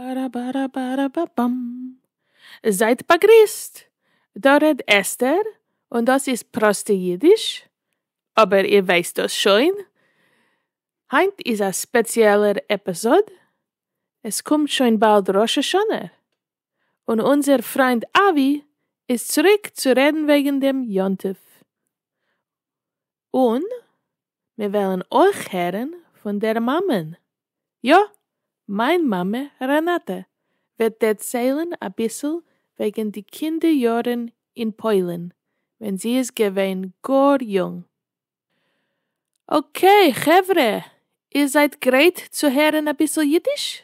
בארא בארא בארא בא באם. זייט באגריסט! דא רעדט אסתר, און דאס איז פראסטע אידיש, אבער איר ווייסט דאס שוין. היינט איז א ספעציעלער עפיזאד, עס קומט שוין באלד ראש השנה, און אונזער פריינד אבי איז צוריק צו רעדן וועגן דעם יום טוב, און מיר וועלן אויך הערן פון דער מאמע'ן, יא, מיין מאמע רענאטע וועט דערציילן אביסל וועגן די קינדער יארן אין פוילן ווען זי איז געווען גאר יונג. אקעי חברה, איר זייט גרייט צו הערן אביסל אידיש?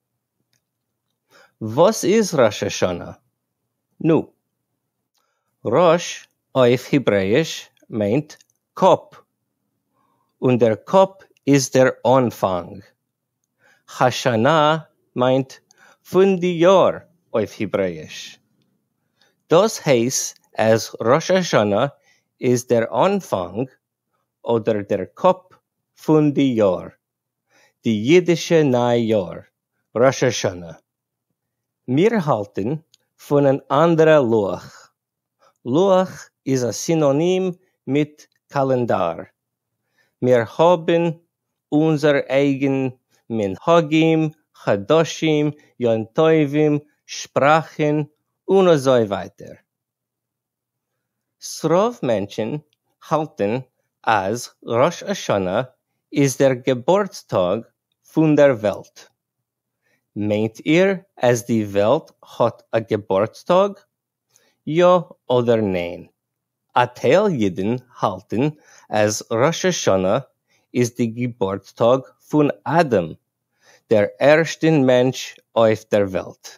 וואס איז ראש השנה? נו. ראש אויף היברעיש מיינט קאפ, און דער קאפ איז דער אנפאנג. השנה מיינט פון די יאר אויף היברעיש. דאס הייס אז ראש השנה איז דער אנפאנג אדער דער קאפ פון די יאר. די אידישע ניי יאר, ראש השנה. מיר האלטן פון אן אנדערע לוח. לוח איז א סינאנים מיט קאלענדאר. מיר האבן אונזער אייגן מנהגים, חדשים, יום טובים, שפראכן, און אזוי ווייטער. ס'רוב מענטשן האלטן אז ראש השנה איז דער געבורטס טאג פון דער וועלט. מיינט איר אז די וועלט האט א געבורטס טאג? יא אדער ניין? א טייל אידן האלטן אז ראש השנה איז די געבורטס טאג פון אדם, דער ערשטן מענטש אויף דער וועלט.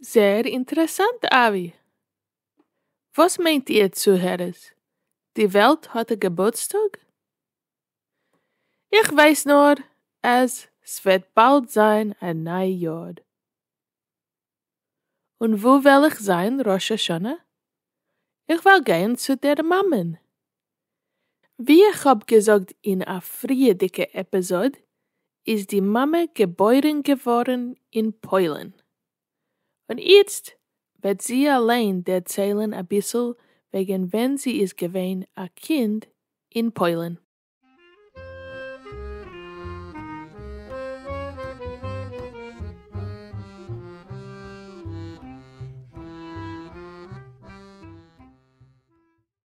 זעהר אינטערעסאנט אבי! וואס מיינט איר צוהערערס? די וועלט האט א געבורטסטאג? איך ווייס נאר אז סוועט באלד זיין א ניי יאר. און וואו וועל איך זיין ראש השנה? איך וועל גיין צו דער מאמען ווי איך האב געזאגט אין א פריעדיגע עפיזאד איז די מאמע געבוירן געווארן אין פוילן, און איצט וועט זי אליין דערציילן אביסל וועגן ווען זי איז געווען א קינד אין פוילן.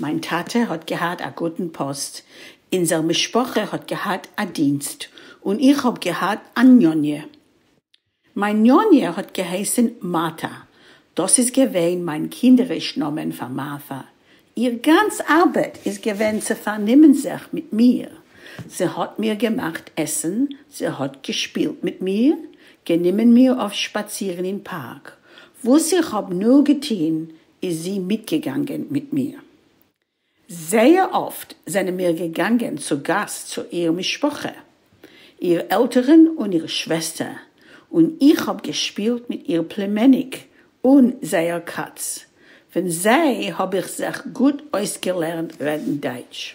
מיין טאטע האט געהאט א גוטן פאסט, אונזער משפחה האט געהאט א דינסט, און איך האב געהאט א ניאניע. מיין ניאניע האט געהייסן מאטא, דאס איז געווען מיין קינדעריש נאמען פאר מארטא. איר גאנץ ארבעט איז געווען צו פארנומען זיך מיט מיר. זי האט מיר געמאכט עסן, זי האט געשפילט מיט מיר, גענומען מיר אויף שפאצירן אין פארק, וואס איך האב נאר געטון, איז זי מיטגעגאנגען מיט מיר. זייער אפט זענען מיר געגאנגען צו גאס צו איר משפחה, איר עלטערן און איר שוועסטער, און איך האב געשפילט מיט איר פלימעניק און זייער קאץ, פון זיי האב איך זיך גוט אויסגעלערנט רעדן דייטש.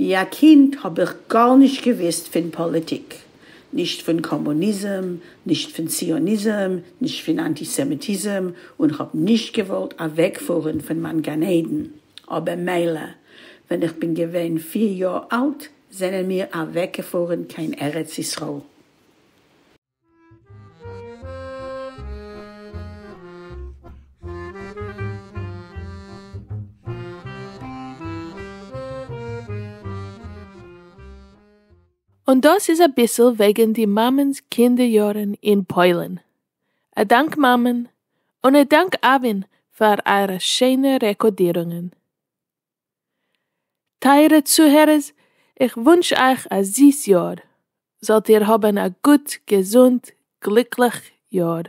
ווי א קינד האב איך גארנישט געוויסט פון פאליטיק, נישט פון קאמוניזם, נישט פון ציוניזם, נישט פון אנטיסעמיטיזם, און כ'האב נישט געוואלט אוועקפארן פון מיין גן עדן, אבער מילא, ווען איך בין געווען פיר יאר אלט זענען מיר אוועקגעפארן קיין ארץ ישראל. און דאס איז אביסל וועגן די מאמענ'ס קינדער יארן אין פוילן. א דאנק מאמען, און א דאנק אבין פאר אייערע שיינע רעקאדירונגען. טייערע צוהערערס, איך וואונטש אייך א זיס יאר, זאלט איר האבן א גוט, געזונט, גליקליך יאר,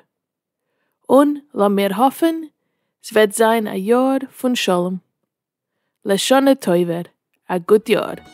און לאמיר האפן ס'וועט זיין א יאר פון שלום. לשנה טובה, א גוט יאר!